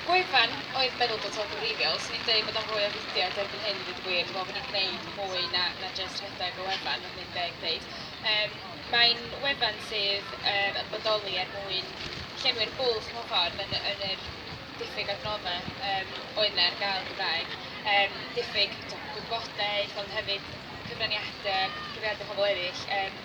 Gwefan oedd meddwl bod o'n wreiddiol, swn i'n deud bod o'n fwy o fudiad erbyn hyn i ddweud y gwir, dwi'n meddwl bod ni'n gwneud mwy na na jyst rhedeg y wefan, os dwi'n deg ddeud. Yym mae'n wefan sydd yym yn bodoli er mwyn llenwi'r bwlch mewn ffordd yn yn yr diffyg adnoddau yym oedd yna ar gael yn Gymraeg, yym diffyg t'o' gwybodaeth ond hefyd cyfraniadau, cyfraniadau pobl eraill, yym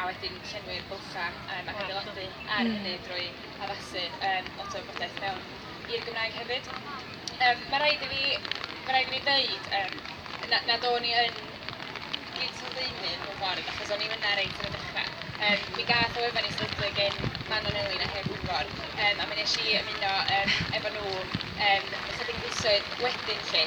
a wedyn llenwi'r bylchau yym ac adeiladu ar hynny drwy addasu yym lot o wybodaeth mewn i'r Gymraeg hefyd. Yym mae rhaid i fi mae rhaid i fi ddeud yym na- nad o'n i yn gyd-sylfaenydd mewn ffordd achos o'n i fan'na reit ar y dechrau. Yym mi gath o wefan ei sefydlu gan Manon Elin a Huw Gwynfor yym a mi wnes i ymuno yym efo nhw yym ychydig fisoedd wedyn 'lly.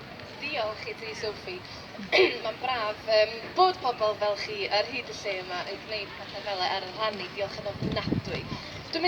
Diolch i ti Sophie. Mae'n braf yym bod pobl fel chi ar hyd y lle yma yn gwneud pethe fele ar y rhanni, diolch yn ofnadwy. Dwi'n mynd